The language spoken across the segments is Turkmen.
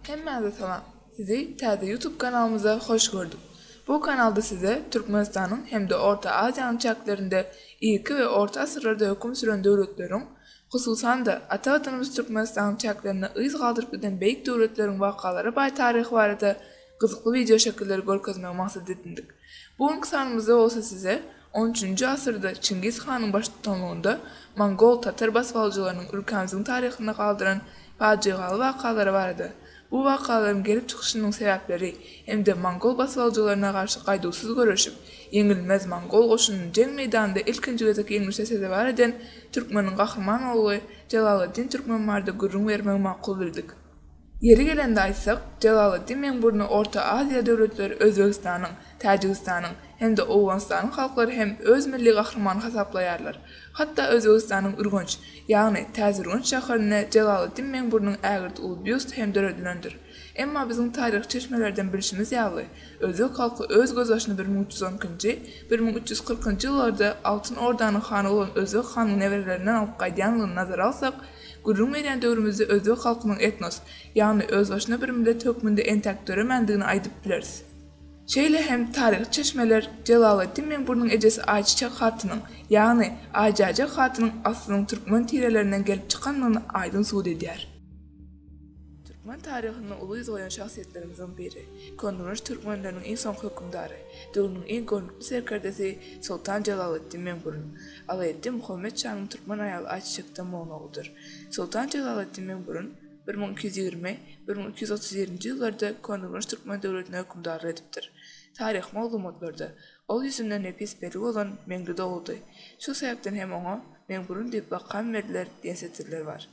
Hemmäňize salam. Sizi täze YouTube kanalymyzda hoş gördük. Bu kanalda size Türkmenistanyň hem-de Orta Aziýanyň çäklerinde irki we orta asyrlarda höküm süren döwletleriň, hususan-da, ata Watanymyz Türkmenistanyň çäklerinde yz galdyryp giden beýik döwletleriň wakalary baý taryhy barada gyzykly wideo şekilleri görkezmegi maksat edindik. Bu günki sanymyzda bolsa size on üçünji asyrda Çingiz hanyň baştutanlygynda mongol, tatar basybalyjylarynyň ülkämiziň taryhynda galdyran pajygaly wakalary barada, bu wakalaryň gelip çykyşynyň sebäpleri hem-de mongol basybalyjylaryna garşy gaýduwsyz göreşip, ýeňilmez mongol goşunyny jeň meýdanynda ilkinji gezek ýeňlişe sezewar eden türkmeniň gahryman ogly Jelaleddin Türkmen barada gürrüň bermegi makul bildik. Ýeri gelende aýtsak, Jelaleddin Meňburny Orta Aziýa döwletleri Özbegistanyň, Täjigistanyň hem-de Owganystanyň halklary hem öz milli gahrymany hasaplaýarlar. Hatda Özbegistanyň Ürgenç, ýagny Täzeürgenç şäherinde Jelaleddin Meňburnyň ägirt uly býusty hem döredilendir. Emma biziň taryhy çeşmelerden bilşimiz ýaly, özbek halky öz gözbaşyny bir müň üç ýüz on ikinji, bir müň üç ýüz kyrkynjy ýyllarda Altyn Ordanyň hany bolan Özbek hanyň neberelerinden alyp gaýdýandygyny nazara alsak, Gürrüň berýän döwrümizde özbek halkynyň etnos, ýagny özbaşyna bir millet hökmünde entäk döremändigini aýdyp bileris. Şeýle hem taryhy çeşmeler Jelaleddin Meňburnyň ejesi Aýçiçek hatynyň, ýagny Aýjäjek hatynyň aslynyň türkmen tirelerinden gelip çykandygyny aýdyň subut edýär. Türkmen taryhynda uly yz goýan şahsyýetlerimizden biri, köneürgenç türkmenleriniň iň soňky hökümdary, döwrüniň iň görnükli serkerdesi Soltan Jelaleddin Meňburun, Alaeddin Muhammet şanyň türkmen aýaly Aýçiçekden bolan ogludyr. Soltan Jelaleddin Meňburun bir müň iki ýüz ýigrimi, bir müň iki ýüz otuz ýerinji ýyllarda köneürgenç türkmen döwletine hökümdarlyk edipdir. Taryhy maglumatlarda ol ýüzünde nepis peri bolan Meňli dogludy. Şu sebäpden hem oňa Meňburun diýip lakam berdiler diýen setirler bar.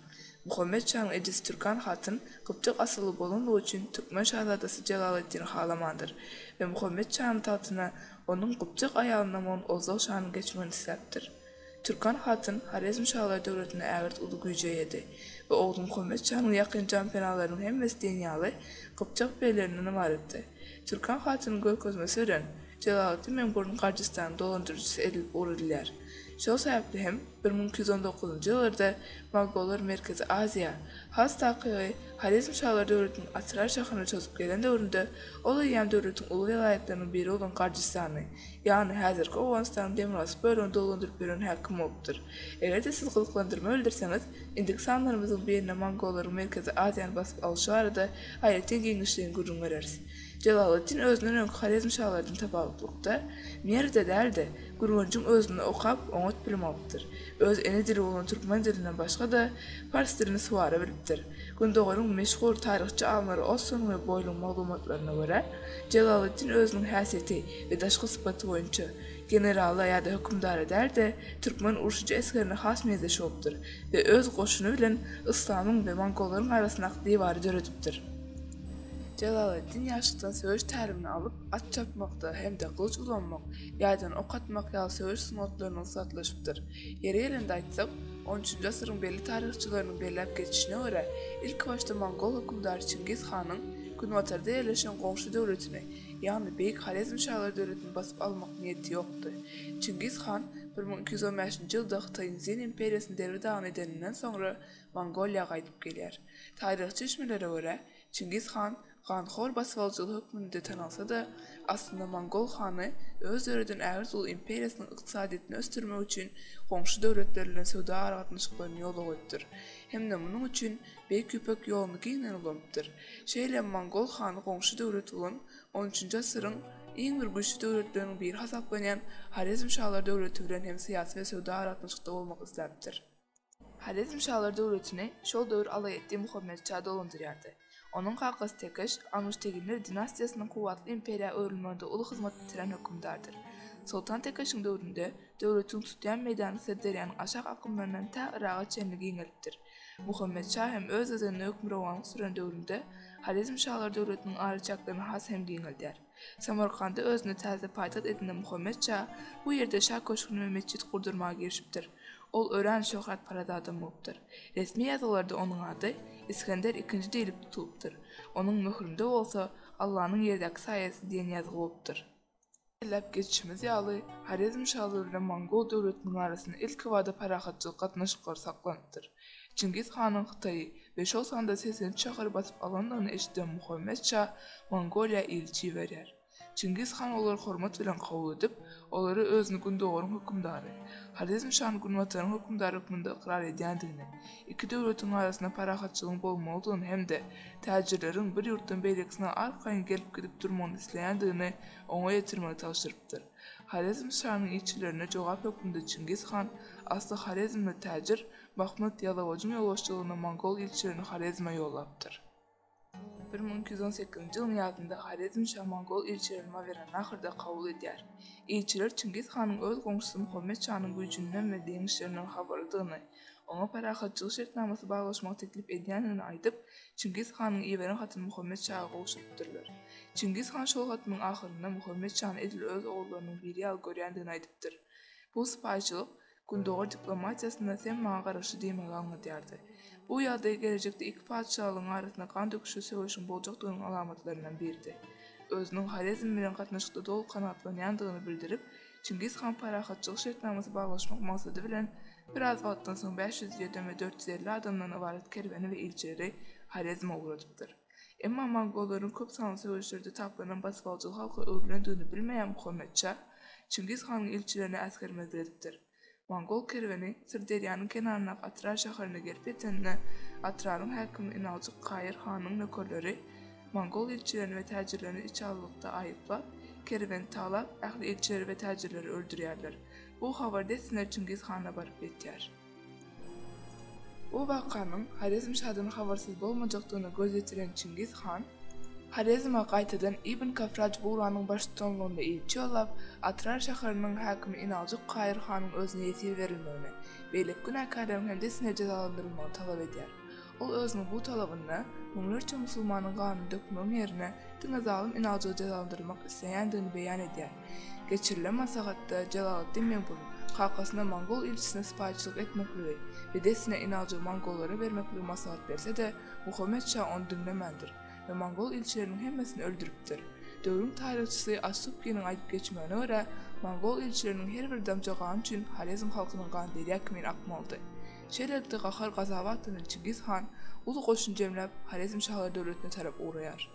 Muhammet şaň Edis Türkan hatyn gypjak asylly bolanlygy üçin türkmen şazadasy Jelaleddini halamandyr we Muhammet şanyň tagtyna onuň gypjak aýalyndan bolan Ozdag şanyň geçmegini isläpdir. Türkan hatyn Horezm şalar döwletinde ägirt uly güýje eýedi we ogly Muhammet şanyň ýakyn janpenalarynyň hemmesi diýen ýaly gypjak beglerinden ybaratdy. Türkan hatynyň görkezmesi bilen Jelaleddin Meňburun Garjystanyň dolandyryjysy edilip ugradylýar. Şol sebäpli hem bir müň iki ýüz on dokuzynjy ýyllarda mogollar Merkezi Aziýa, has takygy, Horezm şalar döwletiniň Atrar şahyna çozup gelen döwründe ol eýýäm döwletiň uly welaýatlarynyň biri bolan Gardystany, ýagny häzirki Owganystanyň demirgazyk bölegini dolandyryp ýören häkim bolupdyr. Eger-de siz gyzyklandyrma bildirseňiz, indiki sanlarymyzyň birinde mongollaryň Merkezi Aziýany basyp alyşy barada aýratyn giňişleýin gürrüň bereris. Jelaleddin özünden öňki horezmşalardan tapawutlykda, Merwde däl-de, Gürgenjiň özünde okap, oňat bilim alypdyr. Öz ene dili bolan türkmen dilinden başga-da, pars dilini suwara bilipdir. Gündogaryň meşhur taryhçy alymlary Osson we Boýluň maglumatlaryna görä, Jelaleddin özüniň häsiýeti we daşky sypaty boýunça generala ýa-da hökümdara däl-de, türkmen urşujy esgerine has meňzeş bolupdyr we öz goşuny bilen yslamyň we mongollaryň arasyndaky diwary döredipdir. Jelaleddin ýaşlykdan söweş tälimini alyp, at çapmakda hem-de gylyç ulanmak, ýaýdan ok atmak ýaly söweş sungatlaryna ussatlaşypdyr. Ýeri gelende aýtsak, on üçünji asyryň belli taryhçylarynyň belläp geçişine görä, ilkibaşda mongol hökümdary Çingiz hanyň Günbatarda ýerleşen goňşy döwletini, ýagny Beýik Horezmşalar döwletini basyp almak niýeti ýokdy. Çingiz han bir müň iki ýüz on bäşinji ýylda Hytaýyň Zin imperiýasyny derbi-dagyn edeninden soňra, Mongoliýa gaýdyp gelýär. Taryhy çeşmelere görä, Çingiz han ganhor basybalyjylar hökmünde tanalsa-da, aslynda mongol hany öz döreden ägirt uly imperiýasynyň ykdysadyýetini ösdürmek üçin goňşy döwletler bilen söwda aragatnaşyklaryny ýola goýupdyr hem-de munuň üçin Beýik Ýüpek ýoluny giňden ulanypdyr. Şeýle hem mongol hany goňşy döwlet bolan on üçünji asyryň iň bir güýçli döwletleriniň biri hasaplanýan Horezmşalar döwleti bilen hem syýasy we söwda aragatnaşykda bolmak isläpdir. Horezmşalar döwletini şol döwür Alaeddin Muhammet şa dolandyrýardy. Onuň kakasy Tekeş, Almyşteginler dinastiýasynyň kuwwatly imperiýa öwrülmeginde uly hyzmat bitiren hökümdardyr. Soltan Tekeşiň döwründe döwletiň tutýan meýdany Syrderýanyň aşak akymlaryndan tä Yraga çenli giňelipdir. Muhammet şa hem öz gezeginde hökmürowanlyk süren döwründe Horezmşalar döwletiniň araçäklerini has hem giňeldýär. Samarkanda özüne täze paýtagt edinen Muhammet şa bu ýerde şa köşgüni we metjit gurdurmaga girişipdir. Ol örän şöhratparaz adam bolupdyr. Resmi ýazgylarda onuň ady Isgender ikinji diýlip tutulypdyr. Onuň möhründe bolsa Allanyň ýerdäki saýasy diýen ýazgy bolupdyr. Belläp geçişimiz ýaly, Horezm şalygy bilen mongol döwletiniň arasynda ilkibada parahatçylyk gatnaşyklary saklanypdyr. Çingiz hanyň Hytaýy we şol sanda segsen üç şäheri basyp alandygyny eşiden Muhammet şa Mongoliýa ilçi iberýär. Çingiz han olary hormat bilen kabul edip, olara özüni Gündogaryň hökümdary, Horezm şany Günbataryň hökümdary hökmünde ykrar edýändigini, iki döwletiň arasynda parahatçylygyň bolmalydygyny hem-de täjirleriň bir ýurtdan beýlekisine arkaýyn gelip-gidip durmagyny isleýändigini oňa ýetirmegi tabşyrypdyr. Horezm şanyň ilçilerine jogap hökmünde Çingiz han, asly horezmli täjir, Mahmyt Ýalawajyň ýolbaşçylygynda mongol ilçilerini Horezme ýollapdyr. Bir müň iki ýüz on sekizinji ýylyň ýazynda Horezm şa mongol ilçilerini Mawerannahyrda kabul edýär. Ilçiler Çingiz hanyň öz goňşusy Muhammet şanyň güýjünden we deňişlerinden habarlydygyny, oňa parahatçylyk şertnamasy baglaşmagy teklip edýändigini aýdyp, Çingiz hanyň iberen hatyny Muhammet şaga gowşurypdyrlar. Çingiz han şol hatynyň ahyrynda Muhammet şany edil öz ogullarynyň biri ýaly görýändigini aýdypdyr. Bu sypaýyçylyk Gündogar diplomatiýasynda sen maňa garaşy diýmegi aňladýardy. Bu ýagdaý gelejekde iki patyşalygyň arasynda gan döküşli söweşiň boljakdygynyň alamatlaryndan biridi. Özüniň Horezm bilen gatnaşykda doly kanagatlanýandygyny bildirip, Çingiz han parahatçylyk şertnamasy baglaşmak maksady bilen, biraz wagtdan soň bäş ýüz ýedem we dört ýüz elli adamdan ybarat kerweni we ilçileri Horezme ugradypdyr. Emma mongollaryň köp sanly söweşlerde taplanan basybaladygy halka öwrülendigini bilmeýän Muhammet şa, Çingiz hanyň ilçilerine äsgermezlik edipdir. Mongol kerweni Syrderýanyň kenaryndaky Atrar şäherine gelip ýetende, Atraryň häkimi Inaljyk Kaýyr hanyň nökerleri mongol ilçilerini we täjirlerini içaglylykda aýyplap, kerweni talap, ähli ilçileri we täjirleri öldürýärler. Bu habar dessine Çingiz hana baryp ýetýär. Bu wakanyň Horezmşadan habarsyz bolmajakdygyna göz ýetiren Çingiz han Horezme gaýtadan Ibn Kafraj Bugranyň baştutanlygynda ilçi ýollap, Atrar şäheriniň häkimi Inaljuk Kaýyr hanyň özüne ýesir berilmegini, beýleki günäkärleriň hem dessine jezalandyrylmagyny talap edýär. Ol özüniň bu talabynda müňlerçe musulmanyň ganyny dökmegiň ýerine diňe zalym Inaljygy jezalandyrmak isleýändigini beýan edýär. Geçirilen maslahatda Jelaleddin Meňgul kakasyna mongol ilçisine sypaýyçylyk etmekligi we dessine Inalja mongollara bermekligi maslahat berse-de, Muhammet şa ony diňlemändir we mongol ilçileriniň hemmesini öldüripdir. Döwrüň taryhçysy As-Subkiniň aýdyp geçmegine görä, mongol ilçileriniň her bir damja gany üçin Horezm halkynyň gany derýa kimin akmalydy. Şeýlelikde, gahar-gazaba atlanan Çingiz han uly goşun jemläp, Horezm şahlary döwletine tarap ugraýar.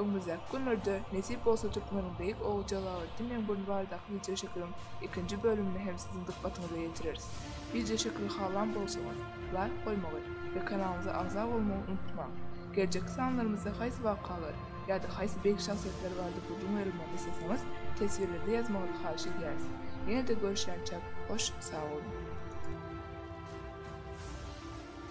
Öňümizdäki günlerde, nesip bolsa türkmeniň beýik ogly Jalaletdin Meňburny baradaky wideoşekiliň ikinji bölümini hem siziň dykgatyňyza ýetireris. Wideoşekili halan bolsaňyz, laýk goýmagy we kanalymyza agza bolmagy unutmaň. Geljekki sanlarymyzda haýsy wakalar ýa-da haýsy beýik şahsyýetler barada gürrüň berilmegini isleseňiz, teswirlerde ýazmagyňyzy haýyş edýäris. Ýene-de görüşýänçäk, hoş, sag boluň!